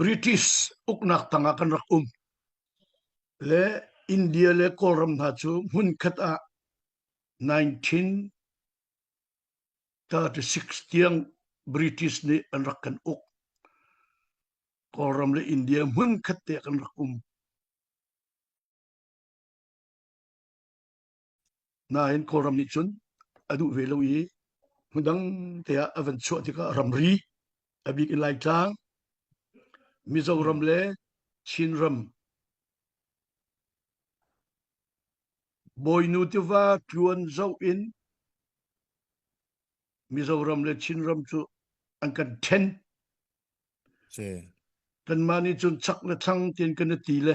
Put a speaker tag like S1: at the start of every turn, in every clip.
S1: British uknak tang ah kan rak um le India le Kawlram hna cu hmunkhat ah 1936 tiang British nih an rak kan uk. Kawlram le India hmunkhat te kan rak um. Nain Kawlram nih cun a duh ve lo i hmundang te ah a van chuah tikah ramri, a bik in Laitlang, Mizoram le Chinram, Bawinu tiva tluan zoh in Mizoram le Chinram cu an kan ṭhen. Kanmah nih cun chak le thlang tiin kan i ti le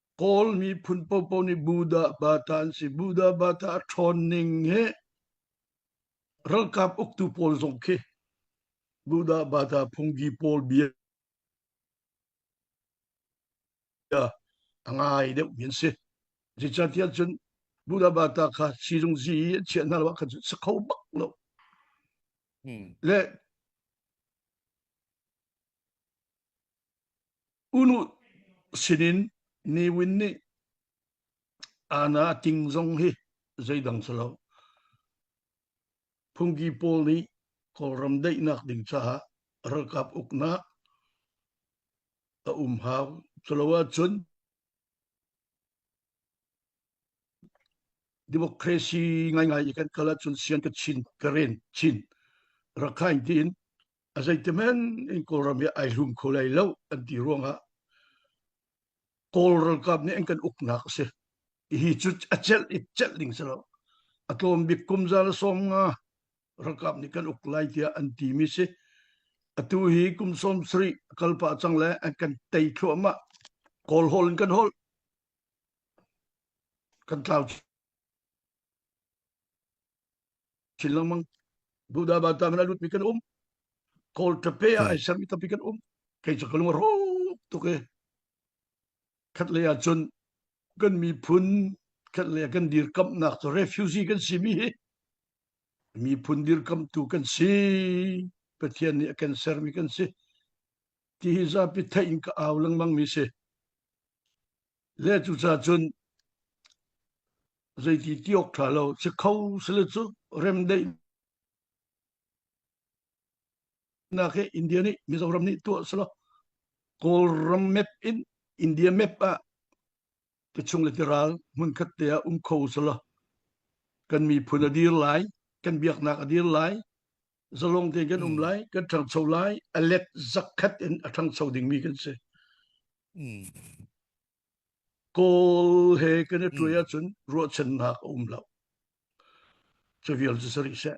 S1: Kawl miphun popo nih Buddha bata an si. Buddha bata a ṭhawn ning hi ralkap uktu pawl zong khi Buddha bata phungki pawl bia a ngai deuh mi an si. Zeicatiah cun Buddha bata kha sizung zi i a chiah hna lo kha cu sa kho bak lo. Hmm. Le Unu sinin Newin nih Anna a ting zong hi zeidang si lo. Phungki pawl nih Kawlram daihnak ding caah ralkap uknak a um hau. Culo ahcun Democracy ngaingai i kan kal ahcun sian ka chin ka ren chin. Rakhine tiin a zeitemen in Kawlram hi ai hlum kho lai lo an ti ruangah Kawl ralkap nih an kan uknak a si. Hi cu a celh i celh ding si lo. A tlawm bik kum zan a sawm nga ralkap nih kan uk lai tiah an ti mi si. Atu hi kum sawm sari a kal pah cang le an kan tei thluahmah. Kawl hol in kan hol. kan tlau chin lengmang buddha batang na lutmi kan um kawl tape a ai sermi tampi kan um kei cu kalung ro tuk e khat lei ah cun kan miphun khat lei ah kan dirkamnak cu refugee kan si mi hi miphun dirkamtu kan si pathian nih a kan sermi kan si ti hi zapi theih in ka au lengmang mi si Le cucah cun zeiti ti awk ṭha lo si kho sile cu remdaihnak hi India nih Mizoram nih tuah silo Kawlram map in India map ah ti chung le ti ral hmunkhat te ah um kho silo kan miphun a dir lai kan biaknak a dir lai zalong te kan um hmm. lai kan ṭhangcho lai a let zakkhat in a ṭhangcho dingmi kan si hmm. kawl he kan i ṭuai hmm. ahcun ruahchannak a um lo cu vial cu sarik seh